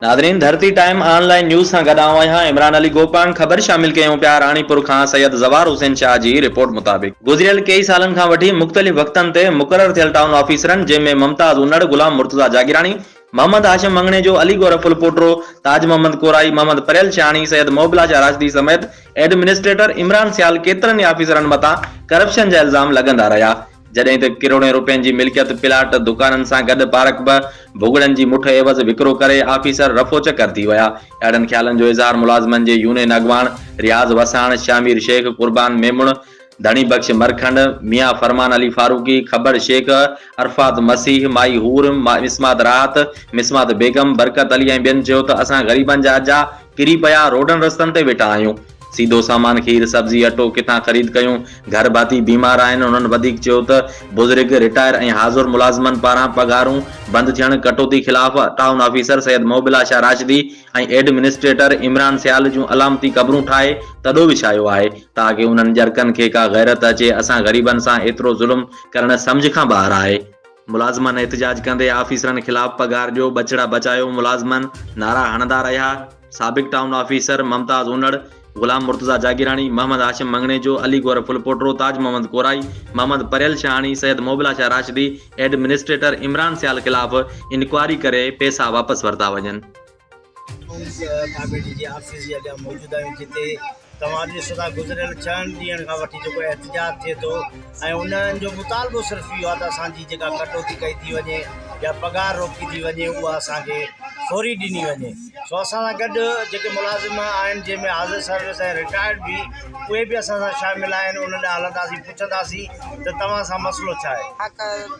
ناظرين Dharti time online news سان گڏ آئون آهيان عمران علي گوپانگ خبر شامل ڪيون پيا راڻيپور کان سيد زوار حسين شاهه جي رپورٽ مطابق گذريل ڪيئي سالن کان وٺي مختلف وقتن تي مقرر ٿيل ٽائون آفيسرن جنهن ۾ ممتاز انڙ غلام مرتضيٰ جاگيراڻي محمد هاشم مڱڻيجو علي گور ڦل پوٽرو تاج محمد ڪورائي محمد پريل شاهاڻي سيد محب لاشا راشدي سميت ايڊمنسٽريٽر عمران سيال ڪيترن ئي آفيسرن مٿان ڪرپشن جا الزام لڳندا رهيا جڏهن ته ڪروڙين روپين جي ملڪيت پلاٽ دڪانن سان گڏ پارڪ به ڀڳڙن جي مٺ عيوض وڪرو ڪري آفيسر رفو چڪر ٿي ويا. اهڙن خيالن جو اظهار ملازمن جي يونين اڳواڻ رياض وساڻ، شاهمير شيخ، قربان ميمڻ، ڌڻي بخش مرکنڊ، ميان فرمان علي فاروقي، کٻڙ شيخ، عرفات مسيح، مائي حور، مسمات راحت، مسمات بيگم، برڪت علي ۽ ٻين چيو ته اسان غريبن جا اجها ڪري پيا روڊن رستن تي ويٺا آهيون. سيڌو سامان کير، سبزي، اٽو ڪٿان خريد ڪيون؟ گهر ڀاتي بيمار آهن، انهن وڌيڪ چيو ته بزرگ، رٽائر ۽ حاضر ملازمن پاران پگهارون بند ٿيڻ، ڪٽوتي خلاف town officer Syed Muhibullah Shah Rashdi ۽ administrator Imran Sial جون علامتي قبرون ٺاهي تڏو وڇايو آهي تاڪه انهن ڄرڪن کي ڪا غيرت اچي، اسان غريبن سان ايترو ظلم ڪرڻ سمجهه کان ٻاهر آهي. ملازمن احتجاج ڪندي آفيسرن خلاف پگهار ڏيو ٻچڙا بچايو ملازمن نعرا هڻندا رهيا سابق town officer Mumtaz Unar, Ghulam Murtaza Jagirani, Muhammad Hashim Manganejo, Ali Gohar Phulpotro, Taj Muhammad Korai, Muhammad Paryal Shahani, Syed Muhibullah Shah Rashdi, administrator Imran Sial خلاف انڪوائري ڪري پئسا واپس ورتا وڃن. پيپلز پارٽي جي آفيس جي اڳيان موجود آهيون جتي توهان ڏسو ٿا گذريل ڇهن ڏينهن کان وٺي جيڪو احتجاج ٿئي ٿو ۽ انهن جو مطالبو صرف اهو آهي ته اسانجي جيڪا ڪٽوتي ڪئي ٿي وڃي يا پگهار روڪي ٿي وڃي اها اسانکي فوري ڏني وڃي سو اسان سان گڏ جيڪي ملازم آهن جنهن ۾ حاضر سروس ۽ رٽائرڊ به اهي به اسان سان شامل آهن انهن ڏانهن هلنداسين پڇنداسين ته توهان سان مسئلو ڇا آهي